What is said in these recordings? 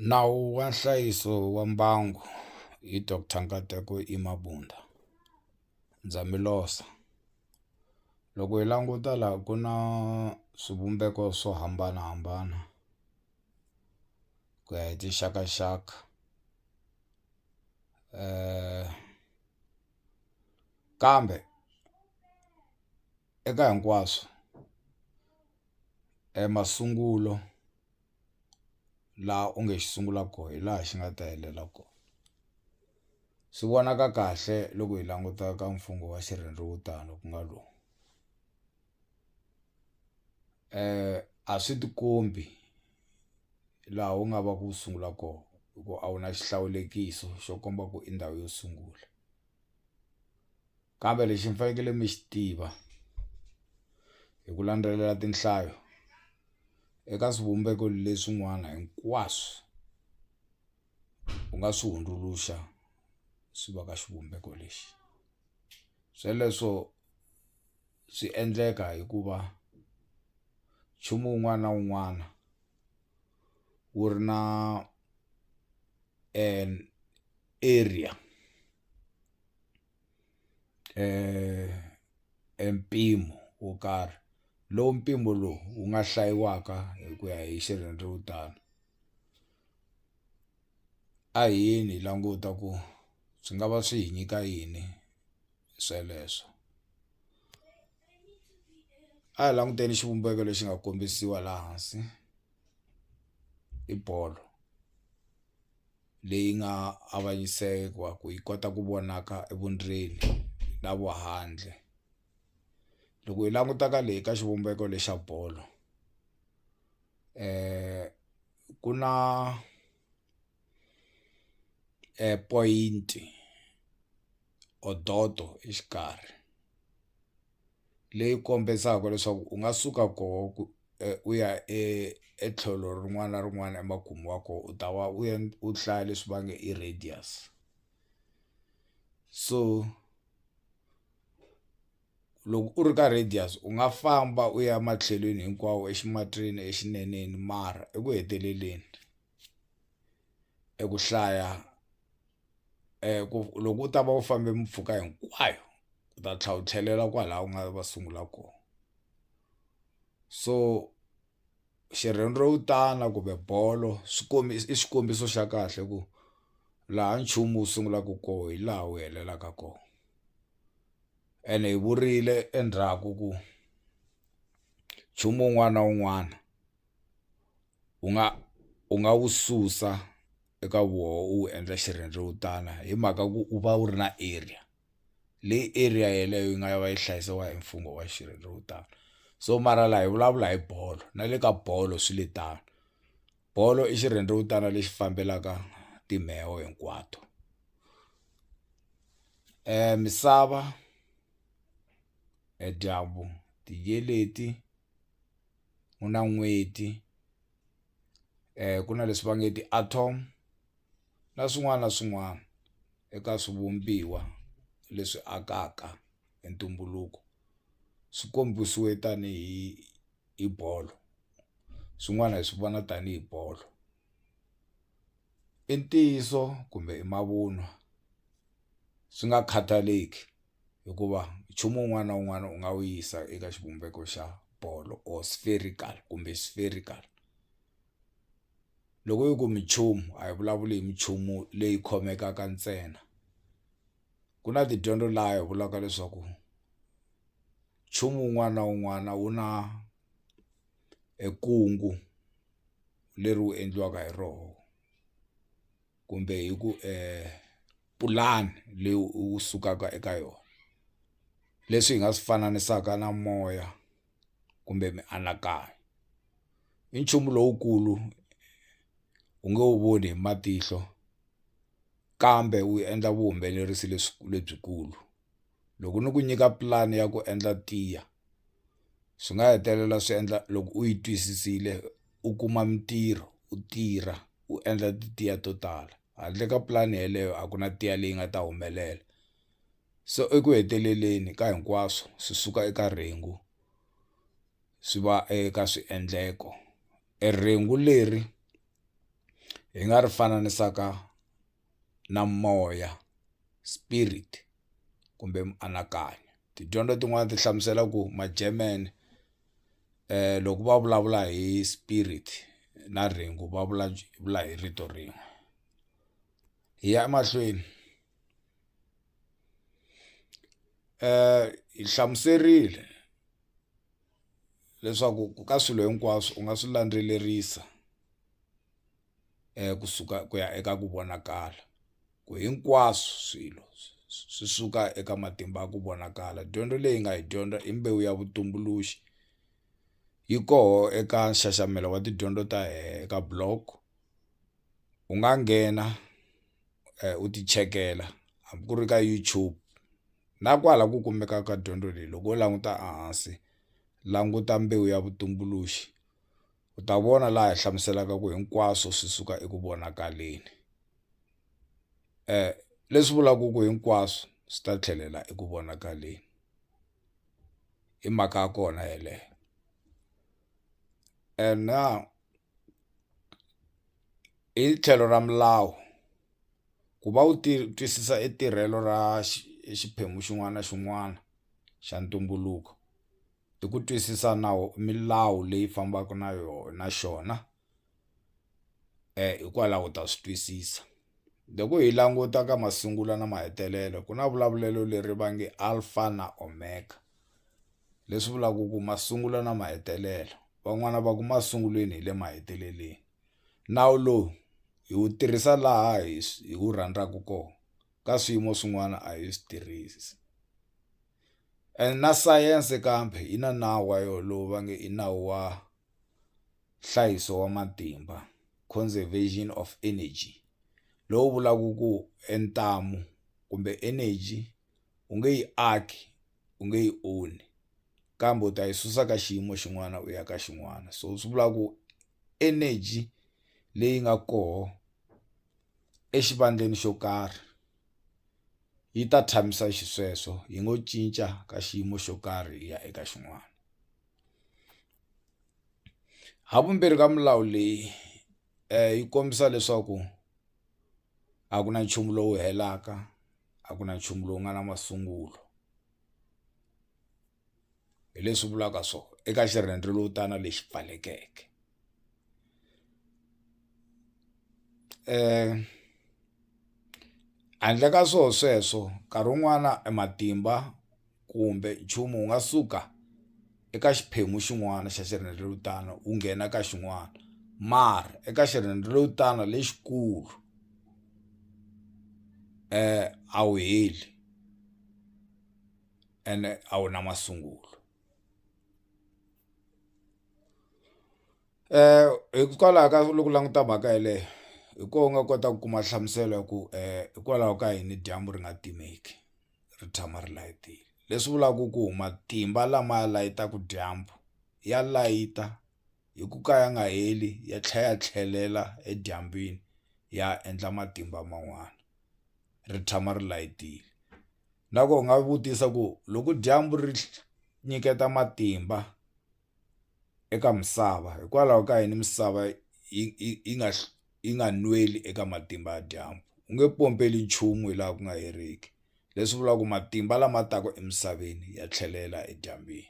Nawu wa nhlayiso wa mbangu hi Doctor Nkateko Imabunda ndza mi losa loko hi languta la ku na swivumbeko swo hambanahambana ku ya hi tinxakaxaka kambe. eka hinkwaswo e masungulo laha u nge xi sungula ko hi laha xi nga ta helela ko swi vonaka kahle loko hi languta ka mfungho wa xirhendewutani ku nga lowu a swi ti kombi laha wu nga va ku sungula ko hi ku a wu na xihlawulekiso xo komba ku i ndhawu yo sungula. Kambe lexi mi fanekele mi xi tiva hi ku landzelela tinhlayo eka swivumbeko leswin'wana hinkwaswo u nga swi hundzuluxa swi va ka xivumbeko lexi sweleswo swi endleka hikuva nchumu wun'wana na wun'wana wu ri na area. eh, e mpimo wo karhi lowu mpimo lowu wu nga hlayiwaka hi ku ya hi xirhendzewutani a yini languta ku swi nga va swi hi nyika yini sweleswo a hi languteni xivumbeko lexi nga kombisiwa laha hansi i bolo leyi nga avanyisiwa ku yi kota ku vonaka evundleni na vuhandle loko hi languta ka leyi ka xivumbeko lexa bolo ku na point. odoto exikarhi leyi kombisaka leswaku u nga suka koho ku u ya e etlhelo rin'wana na rin'wana emakumu wa kona u ta va u u hlaya leswi va nge i radius so loko u ri ka radius u nga famba u ya ematlhelweni hinkwawo eximatsini exineneni mara eku heteleleni. eku hlaya ku loko u ta va u fambe mpfhuka hinkwayo u ta tlhela u tlhelela kwala u nga va sungula kona so xirhendewutani kumbe bolo swikombiso i xikombiso xa kahle ku laha nchumu wu sungulaka kona hi laha wu hetelelaka kona ene hi vurile endzhaku ku nchumu wun'wana na wun'wana. u nga u nga wu susa eka voho u wu endla xirhendzewutana hi mhaka ku u va wu ri na area leyi area yeleyo yi nga ya va yi hlayisiwa hi mfungho wa xirhendzewutani so mara laha hi vulavula hi bolo na le ka bolo swi le tano bolo i xirhendzewutana lexi fambelaka timheho hinkwato misava e dyambu tiyeleti. ku na n'hweti ku na leswi va nge ti-atom na swin'wana na swin'wana eka swivumbiwa leswi akaka hi ntumbuluko swi kombisiwe tanihi hi bolo swin'wana hi swi vona tanihi bolo. i ntiyiso kumbe i mavunwa swi nga khathaleki hikuva nchumu wun'wana na wun'wana u nga wu yisa eka xivumbeko xa bolo or spherical kumbe spherical loko yi ku minchumu a hi vulavuli hi minchumu leyi khomekaka ntsena ku na tidyondzo laha hi vulaka leswaku nchumu wun'wana na wun'wana wu na e kungu. leri wu endliwaka hi roho kumbe hi ku pulani leyi u sukaka eka yona leswi hi nga swi fananisaka na moya kumbe mianakanyo i nchumu lowukulu u nge wu voni hi matihlo kambe wu endla vuhumelerisi lebyi lebyikulu. loko ni ku nyika pulani ya ku endla tiya swi nga hetelela swi endla loko u yi twisisile u kuma mintirho u tirha u endla tiya to tala handle ka pulani yeleyo a ku na tiya leyi nga ta humelela so eku heteleleni ka hinkwaswo swi suka eka rhengu swi va eka swiendleko e rhengu leri hi nga ri fananisaka na moya spirit kumbe mianakanyo tidyondzo tin'wani ti hlamusela ku ma-German loko va vulavula hi spirit na rhengu va vulavula hi rito rin'we hi ya emahlweni hi hlamuserile leswaku ka swilo hinkwaswo u nga swi landzelerisa. ku suka ku ya eka ku vonakala ku hinkwaswo swilo swi suka eka matimba ya ku vonakala dyondzo leyi nga yi dyondza i mbewu ya vutumbuluxi yi koho eka nxaxamelo wa tidyondzo ta hehe eka block u nga nghena u ti chekela hambi ku ri ka YouTube na kwala ku kumeka ka dyondzo leyi loko wo languta a hansi languta mbewu ya vutumbuluxi. U ta vona laha hi hlamuselaka ku hinkwaswo swi suka eku vonakaleni. Leswi vulaka ku hinkwaswo swi ta tlhelela eku vonakaleni. I mhaka ya kona yeleyo. And now hi tlhelo ra milawu, ku va u twisisa i tirhelo ra xiphemu xin'wana na xin'wana xa ntumbuluko, hi ku twisisa nawu milawu leyi fambaka na yona xona hikwalaho u ta swi twisisa loko hi languta ka masungulo na mahetelelo ku na vulavulelo leri va nge alpha na omega leswi vulaka ku masungulo na mahetelelo van'wani va ku masungulweni hi le mahetelelweni nawu lowu hi wu tirhisa laha hi hi wu rhandzaka kona ka swiyimo swin'wana a hi swi tirhisi. and na sayense kambe yi na nawu wa yona lowu va nge i nawu wa nhlayiso wa matimba conservation of energy lowu vulaka ku e ntamu kumbe energy u nge yi aki u nge yi onhi kambe u ta yi susa ka xiyimo xin'wana u ya ka xin'wana so swi vula ku energy leyi nga koho exivandleni xo karhi. yi ta tshamisa xisweswo yi ngo cinca ka xiyimo xo karhi ya eka xin'wana havumbirhi ka milawu leyi um yi kombisa leswaku a ku na nchumu lowu helaka a ku na nchumu lowu nga na masungulo hi leswi vulaka so eka xirhendewutana lexi pfalekeke um handle ka swo sweswo nkarhi wun'wana e matimba kumbe nchumu wu nga suka eka xiphemu xin'wana xa xirhendewutana wu nghena ka xin'wana mara eka xirhendewutana lexikulu um a wu heli. ene a wu na masungulo hikwalaho ka loko u languta mhaka yeleyo hi ko u nga kota ku kuma nhlamuselo ya ku hikwalaho ka yini dyambu ri nga timeki ri tshama ri layitile leswi vulaka ku matimba lama layitaka dyambu ya layita hi ku ka ya nga heli ya tlhela ya tlhelela edyambini ya endla matimba man'wana ri tshama ri layitile. Na ko u nga vutisa ku loko dyambu ri nyiketa matimba eka misava hikwalaho ka yini misava yi yi nga yi nga nweli eka matimba ya dyambu u nge pompeli nchumu hi laha ku nga heriki leswi vulaka matimba lama taka emisaveni ya tlhelela edyambini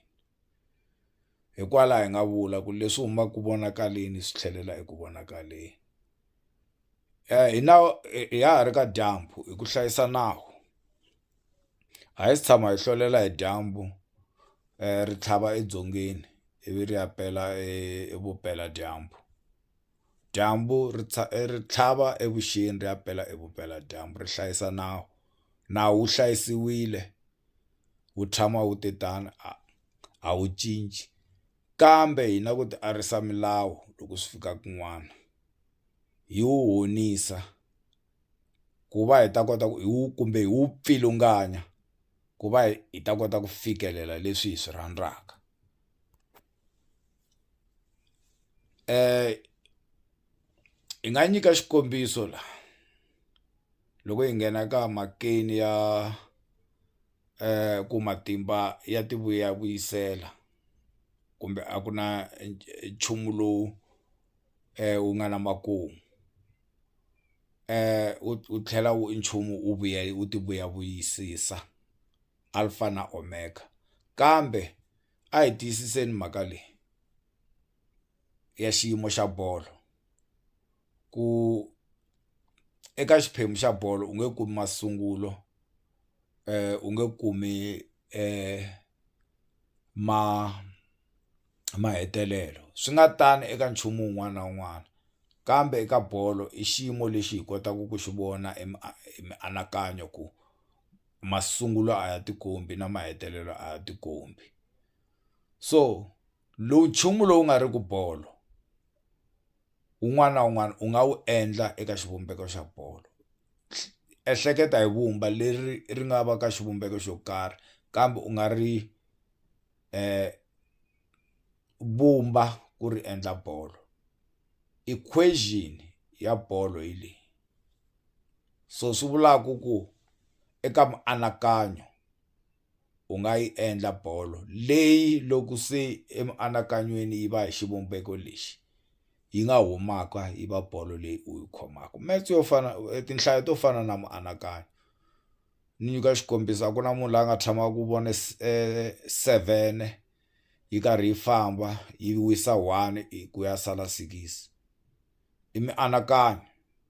hikwalaho hi nga vula ku leswi humaka ku vonakaleni swi tlhelela eku vonakaleni. hi na hi ya ha ri ka dyambu hi ku hlayisa nawu a hi si tshama hi hlolela hi dyambu ri tlhava edzongeni ivi ri ya pela evupela dyambu dyambu ri ri tlhava evuxeni ri ya pela evupela dyambu ri hlayisa nawu nawu wu hlayisiwile wu tshama wu te tano a a wu cinci. Kambe hi na ku tiarisa milawu loko swi fika kun'wana hi wu honisa ku va hi ta kota ku hi wu kumbe hi wu pfilunganya ku va hi hi ta kota ku fikelela leswi hi swi rhandzaka hi nga nyika xikombiso la loko hi nghena ka makeni ya. um ku matimba ya ti vuyisela kumbe a ku na nchumu lowu wu nga na makumu wu tlhela wu i nchumu wu vuya wu ti vuyavuyisisa alfa na omega kambe a hi tiyisiseni mhaka leyi ya xiyimo xa bolo ku eka xiphemu xa bolo u nge kumi masungulo. u nge kumi ma mahetelelo swi nga tani eka nchumu wun'wana na wun'wana kambe eka bolo i xiyimo lexi hi kotaka ku xi vona hi mianakanyo ku masungulo a ya tikombi na mahetelelo a ya tikombi so lowu nchumu lowu nga ri ku bolo. wun'wana na wun'wana u nga wu endla eka xivumbeko xa bolo ehleketa hi vumba leri ri nga va ka xivumbeko xo karhi kambe u nga ri vumba ku ri endla bolo equation ya bolo hi leyi so swi vulaku ku eka mianakanyo. u nga yi endla bolo leyi loko se emianakanyweni yi va hi xivumbeko lexi yi nga humaka yi va bolo leyi u yi khomaka match yo fana e tinhlayo to fana na mianakanyo ni nyika xikombiso a ku na munhu la nga tshama ku vona seven yi karhi yi famba yi wisa one hi ku ya sala six i mianakanyo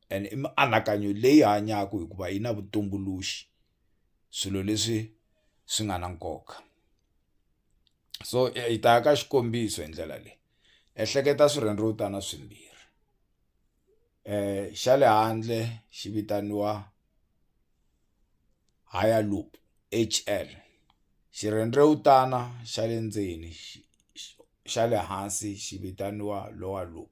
and i mianakanyo leyi hanyaka hikuva yi na vutumbuluxi. swilo leswi swi nga na nkoka so hi ta ka xikombiso hi ndlela leyi ehleketa swirhendzevutana swimbirhi xa le handle xi vitaniwa higher loop H_L xirhendzevutana xa le ndzeni xa le hansi xi vitaniwa lower loop.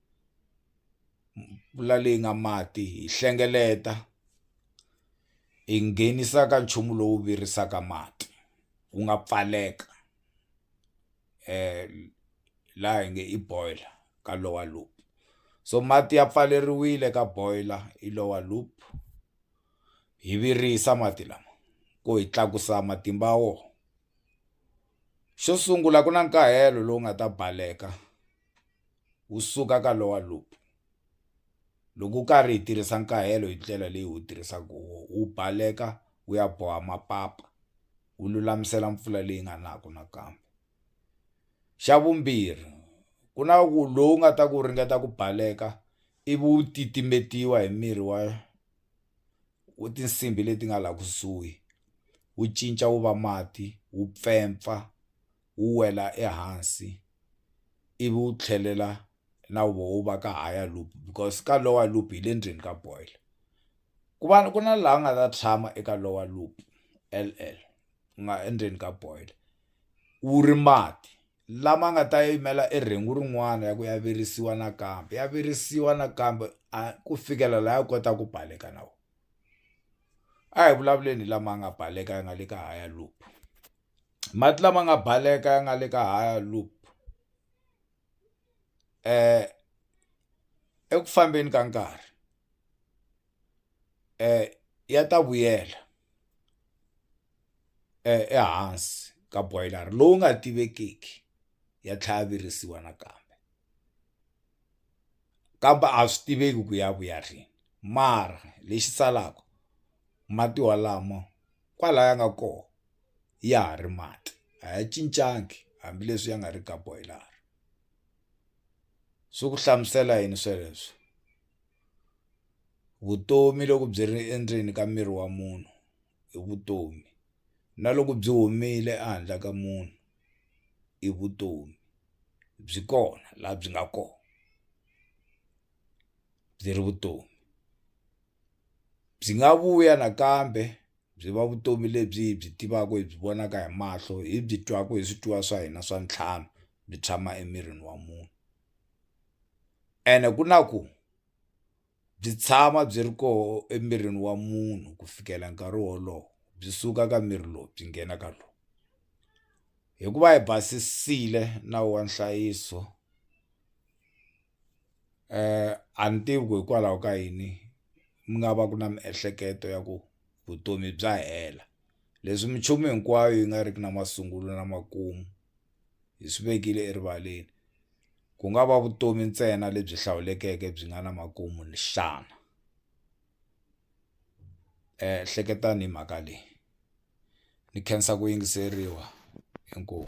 mpfula leyi nga mati hi hlengeleta hi nghenisa ka nchumu lowu virisaka mati wu nga pfaleka laha hi nge i boiler ka lowa loop so mati ya pfaleriwile ka boiler hi lowa loop hi virisa mati lama ku hi tlakusa matimba ya wona xo sungula ku na nkahelo lowu nga ta baleka. wu suka ka lower loop loko u karhi hi tirhisa nkahelo hi ndlela leyi wu tirhisaka hi wona wu baleka wu ya boha mapapa wu lulamisela mpfula leyi nga naku nakambe xa vumbirhi ku na ku lowu nga ta ku ringeta ku baleka ivi wu titimetiwa hi mirhi wa wu tinsimbhi leti nga laha kusuhi wu cinca wu va mati wu pfempfa. wu wela ehansi ivi wu tlhelela na voho wu va ka higher loop because ka lower loop hi le ndzeni ka boiler ku va ku na laha nga ta tshama eka lower loop L_L ku nga endzeni ka boiler wu ri mati lama nga ta yimela e rhengu rin'wana ya ku ya virisiwa nakambe ya virisiwa nakambe a ku fikela laha ya kota ku baleka na wona a hi vulavuleni hi lama nga baleka ya nga le ka higher loop. mati lama nga baleka ya nga le ka higher loop eku fambeni ka nkarhi ya ta vuyela ehansi ka boiler lowu nga tivekiki ya tlhela ya virisiwa nakambe kambe a swi tiveki ku ya vuya rini mara lexi salaku mati walamo. kwala ya nga kona ya ha ri mati a ya cincangi hambileswi ya nga ri ka boiler swi ku hlamusela yini sweleswo vutomi loko byi ri endzeni ka miri wa munhu i vutomi na loko byi humile ehandle ka munhu i vutomi byi kona laha byi nga kona byi ri vutomi. byi nga vuya nakambe byi va vutomi lebyi hi byi tivaka hi byi vonaka hi mahlo hi byi twaka hi switwiwa swa hina swa ntlhanu byi tshama emirini wa munhu ene ku na ku byi tshama byi ri koho emirini wa munhu ku fikela nkarhi wolowo byi suka ka miri lowu byi nghena ka lowu hikuva hi basisile nawu wa nhlayiso. a ni tivi ku hikwalaho ka yini mi nga va ku na miehleketo ya ku vutomi bya hela leswi minchumu hinkwayo yi nga riki na masungulo na makumu hi swi vekile erivaleni ku nga va vutomi ntsena lebyi hlawulekeke byi nga na makumu xana ehleketani hi mhaka leyi ni khensa ku yingiseriwa inkomu.